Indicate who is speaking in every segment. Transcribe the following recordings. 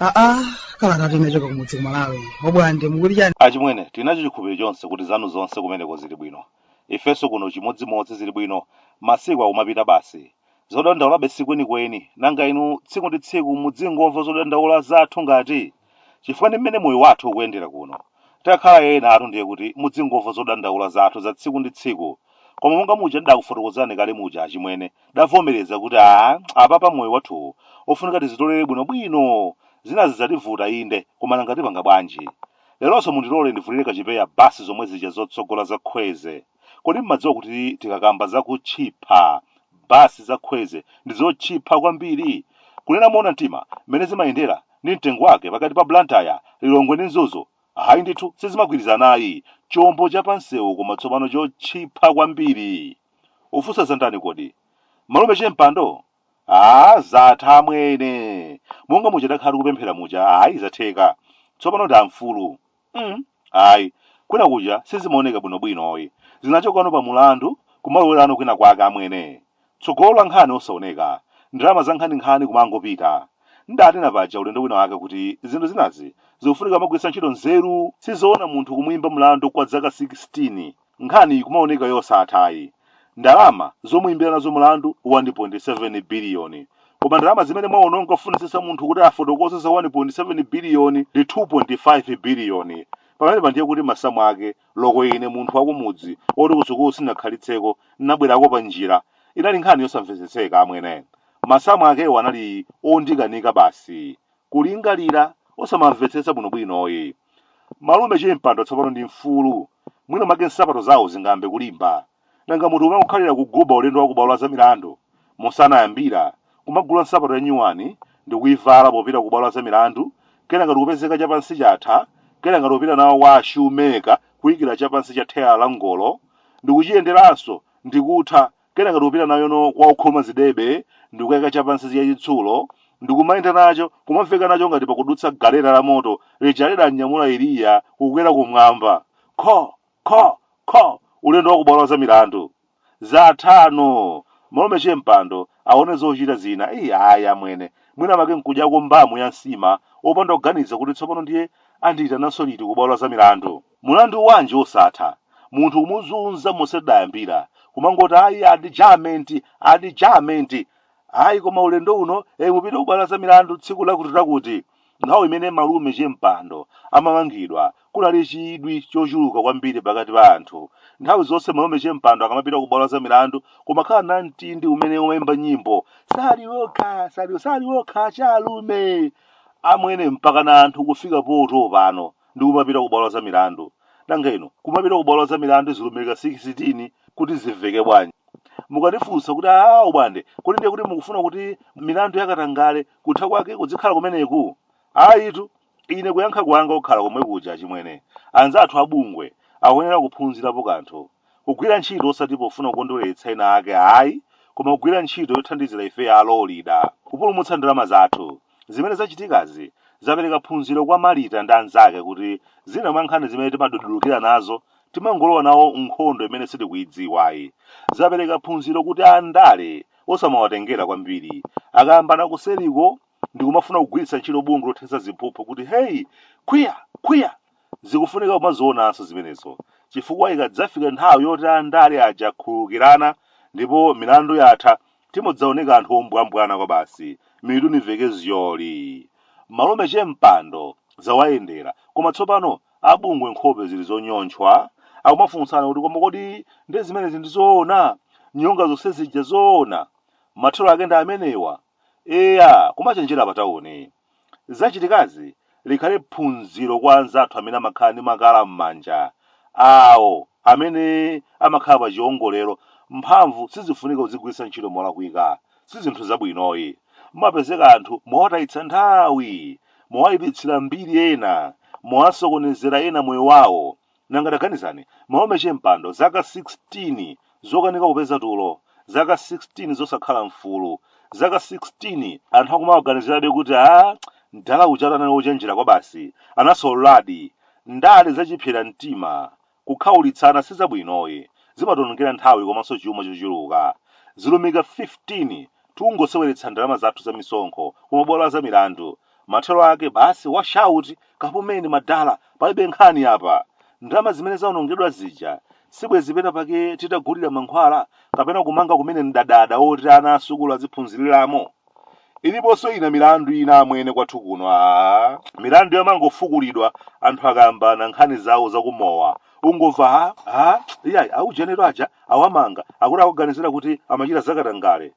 Speaker 1: aa kalata tinachoka kumudzi kumalawi obwande achimwene tinacho chikhulupiriro chonse kuti zanu zonse kumeneko zili bwino ifenso kuno chimodzimodzi zili bwino masiku akumapita basi zodandaula si kwenikweni nanga inu tsiku ndi tsiku mudzingomva zodandaula zathu ngati chifukwa ndi mmene moyo wathu ukuyendera kuno. Titakhala enaenatu ndiye kuti mudzingomva zodandaula zathu za tsiku ndi tsiku. Koma monga muja ndidakufotokozerani kale muja achimwene, tidavomereza kuti aa, apapa moyo wathuwu ofunika tizitolere bwinobwino. Zinazi zativuta inde, koma nanga tipanga bwanji? Leronso mundilole ndivulire kachipewa basi zomwe zija zotsogola za Kwezy. Kodi mumadziwa kuti tikakamba za kutchipha, basi za Kwezy ndi zotchipha kwambiri? Kunena moona mtima, mmene zimayendera ndi mtengo wake pakati pa Blantyre, Lilongwe ndi Mzuzu, ayi ndithu sizimagwirizana ayi, chombo cha pansewu koma tsopano chotchipha kwambiri. Ufunsa za ndani kodi? Malume Chempando? Aaa zatha amwene! Monga muja takhala tikupemphera muja, ayi zatheka. Tsopano ndi amfulu. mm, ayi kwina kuja sizimaoneka bwinobwinoyi zimachoka pa mulandu kumalowera kwina kwake amwene tsogolo la nkhani osaoneka ndalama za nkhaninkhani kumangopita ndanena paja ulendo wina wake kuti zinthu zinazi zikufunika kumagwiritsa ntchito nzeru sizoona munthu kumuyimba mlandu kwa zaka 16 Nkhani ikumaoneka yosatha ayi. Ndalama zomuimbira nazo mlandu 1.7 biliyoni. Koma ndalama zimene mwaononga kufunitsitsa munthu kuti afotokoze za 1.7 biliyoni ndi 2.5 biliyoni. Pamenepa ndiye kuti masamu ake, loko ine munthu wakumudzi woti kusukulu sindinakhalitseko, ndinabwerako panjira, inali nkhani yosamvetsetseka amwene. Masamu akewo anali ondikanika basi. kulingalira osamamvetsetsa bwinobwino yi malume chempando tsopano ndi mfulu mwina make nsapato zawo zingambe kulimba nanga munthu kumangokhalira kuguba ulendo wa kubwalo la za milandu musanayambira kumagula nsapato yanyuwani ndikuivala popita kubwalo la za milandu kenaka ndikupezeka chapansi chatha kenaka ndikupita nayo kwa ashumeka kuikira chapansi cha theyala la ngolo ndikuchiyenderanso ndikutha kenaka ndikupita nayono kwa okhoma zidebe ndikukayika chapansi cha chitsulo ndikumayenda nacho kumamveka nacho ngati pakudutsa galeta la moto lija lidamnyamula eliya kukwera kumwamba kho kho kho ulendo wa kubwalo la milandu zathano malume chempando aone zochita zina ayi amwene mwina make nkudyako mbamu ya nsima opanda kuganiza kuti tsopano ndiye andiyitananso liti kubwalo la milandu Mulandu wanji osatha? Munthu kumuzunza monse tidayambira, kumangoti ayi adjournment, adjournment! Ayi koma ulendo uno ee mupite kubwalo la zamilandu tsiku lakutilakuti. Nthawi imene malume Chimpando amamangidwa kunali chidwi chochuluka kwambiri pakati pa anthu. Nthawi zonse malume Chimpando akamapita kubwalo la zamilandu kumakhala namtindi umene umaimba nyimbo, Sali okha, sali, sali okha, ah! Achalume, amwene mpakana anthu kufika potopa nako. ndi kumapita ku bwalo la zamilandu nanga inu kumapita ku bwalo la zamilandu zilumika 16 kuti zimveke bwanji mukandifunsa kuti aa ubande kodi ndiye kuti mukufuna kuti milandu yakatangale kutha kwake kudzikhala kumeneku ayitu ine kuyankha kwanga kukhala komwe kuja chimwene anzathu abungwe akuyenera kuphunzirapo kanthu kugwira ntchito osati pofuna kukondweretsa ena ake ayi koma kugwira ntchito yothandizira ife Amalawi kupulumutsa ndalama zathu Zimene zachitikazi zapereka phunziro kwa Marita ndi anzake kuti zina mwa nkhani zimene timadudulukira nazo timangolowa nawo m'nkhondo imene sitikuidziwayi. Zapereka phunziro kuti andale osamawatengera kwambiri. Akayambana kuseriko ndi kumafuna kugwiritsa ntchito bungwe lothetsa ziphuphu kuti heyi, khwiya! khwiya! zikufunika kumazionanso zimenezo, chifukwa ikadzafika nthawi yoti andale aja akhululukirana ndipo milandu yatha, timadzaoneka anthu ombwambwana kwabasi mitu ili zyoli malume Chimpando zawayendera koma tsopano abungwe nkhope zili zonyontchwa akumafunsana kuti koma kodi nde zimenezi ndi zoona nyonga zonse zija zoona mathero ake ndi amenewa eya kumachenjera patauni Zachitikazi likhale phunziro kwa anzathu amene amakhala ndi makala m'manja, awo amene amakhala pa chiongolero, mphamvu sizifunika kuzigwiritsa ntchito molakwika, sizinthu zabwinoyi. Mumapezeka anthu mwawatayitsa nthawi, mwawayipitsira mbiri ena, mwawasokonezera ena moyo wawo, nanga taganizani malume Chimpando zaka 16 zokanika kupeza tulo zaka 16 zosakhala mfulu zaka 16 anthu akumawaganizirabe kuti a mdala uja anali wochenjera kwa basi anasololadi ndale zachipsera mtima kukhaulitsana sizabwinoyi zimationongera nthawi komanso chuma chochuluka zilumika 15 Tikungoseweretsa ndalama zathu za misonkho ku mabwalo a zamilandu. Mathero ake basi wash out! Kapumeni madala, palibe nkhani apa. Ndalama zimene zaonongedwa zija, sibwenzi pena pake titagulira mankhwala kapena kumanga kumene mdadada woti ana a sukulu aziphunziriramo? Iliponso ina milandu ina amwene kwathu kuno, aah! Milandu yomangofukulidwa anthu akayambana nkhani zawo za ku mowa. ungomva ha ha iyayi aujenetu aja awamanga akuti akuwaganizira kuti amachita zakatangale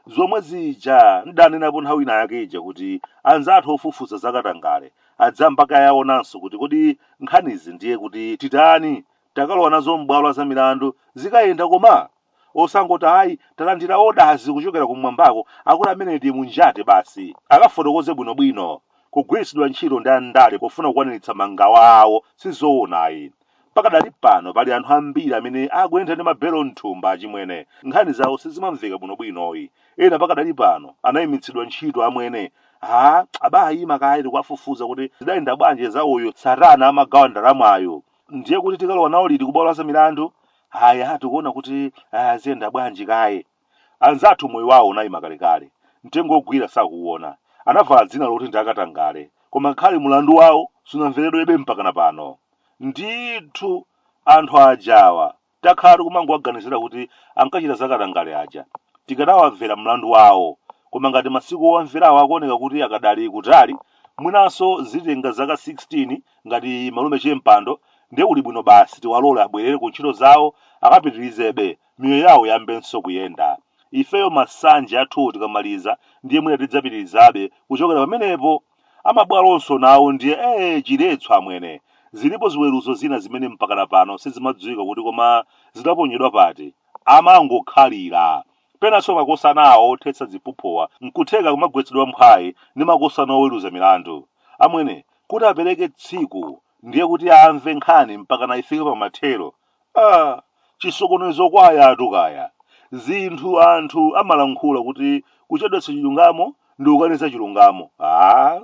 Speaker 1: zomwe zija ndidanenapo nthawi ina yake ija kuti anzathu ofufuza zakatangale adzayamba kaye aonanso kuti kodi nkhanizi ndiye kuti titani takalowa nazo m'bwalo la zamilandu zikayenda koma osangoti ayi talandira orders kuchokera kumwambako akuti ameneyo ndi munjati basi akafotokoze bwino bwino kugwiritsidwa ntchito ndi andale pofuna kukwaniritsa mangawa awo sizoona ayi pakadali pano pali anthu ambiri amene akuyenda ndi mabelo mthumba achimwene nkhani zawo sizimamveka bwino bwinoyi ena pakadali pano anayimitsidwa ntchito amwene aa baimani kaye tikuwafufuza kuti zidayenda bwanji za uyu Sattar amagawa ndalamayo ndiye kuti tikalowa nawo liti kubwalo la zamilandu ayi aa tikuona kuti ah, ziyenda bwanji kaye anzathu moyo wawo unayima kalekale mtengo ogwira sakuwona anavala dzina loti ndi akatangale koma ngakhale mulandu wawo sunamveredwebe mpakana pano ndithu anthu ajawa takhala tikumangowaganizira kuti ankachita zakatangale aja tikadawamvera mlandu wawo koma ngati masiku owamverawo akuoneka kuti akadali kutali mwinanso zitenga zaka 16 ngati malume Che Mpando ndiye kuli bwino basi tiwalole abwerere ku ntchito zawo akapitirizebe miyoyo yawo yambenso kuyenda ifeyo masanje athuwo tikamaliza ndiye mwina tidzapitirizabe kuchokera pamenepo amabwalonso nawo ndiye ee chiletsa amwene zilipo ziweruzo zina zimene mpakana pano sizimadziwika kuti koma zidaponyedwa pati amangokhalira Penanso makosana awo othetsa ziphuphuwa n'kutheka akumagwetsedwa mphwayi ndi makosana oweruza milandu. Amwene, kuti apereke tsiku ndiye kuti amve nkhani mpakana ifike pa mathero? Aaa! Chisokonezo kwayatu kaya. Zinthu anthu amalankhula kuti kuchedwetsa chilungamo ndi kukaniza chilungamo. Aaa!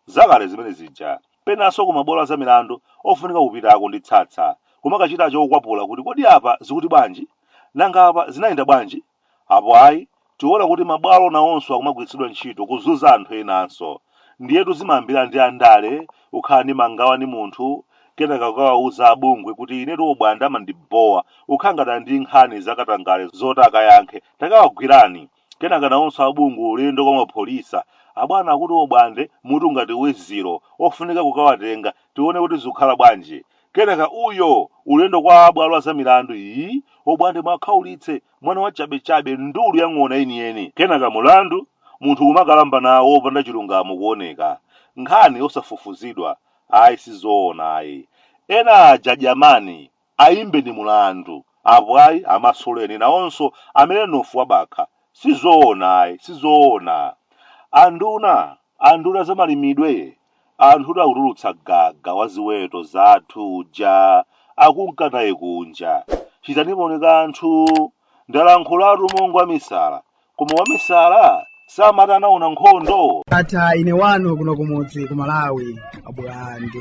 Speaker 1: Zakale zimene zija. penanso kumabwalo a zamilandu ofunika kupitako ndi tsatsa kumakachita chokwapula kuti kodi apa zikuti bwanji? Nanga apa zinayenda bwanji? Apo ayi, tiona kuti mabwalo nawonso akumagwiritsidwa ntchito kuzunza anthu enanso. Ndiyetu zimayambira ndi andale kukhala ndi mangawa ndi munthu kenaka kukawauza a bungwe kuti inetu Obwande amandibhowa, kukhala ngati ali ndi nkhani za katangale zoti akayankhe, takawagwirani! Kenaka nawonso a bungwe ulendo kwa apolisi. Abwana akuti obwande mutu ngati wezilo, ofunika kukawatenga, tione kuti zikhala bwanji. Kenaka uyo! Ulendo kwa a bwalo a za milandu, ii, obwande muwakhaulitse, mwana wa chabe chabe, ndulu ya ng'ona yeniyeni. Kenaka mulandu, munthu kumakalamba nawo opanda chilungamo kuoneka. Nkhani osafufuzidwa, ayi sizoona ayi. Ena aja dyamani, ayimbeni mulandu apo ayi amasuleni nawonso adye mnofu wa bakha sizoona ayi sizoona anduna anduna za malimidwe anthutu akutulutsa gaga wa ziweto zathu uja akunka naye kunja chitaniponi kanthu ndalankhulatu monga wamisala Koma wamisala amati anaona nkhondo. ndatha ine wanu kuno kumudzi ku malawi a Bulande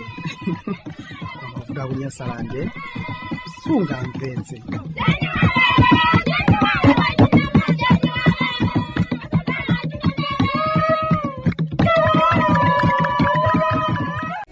Speaker 1: kuti akunyasalande sunga mpenzi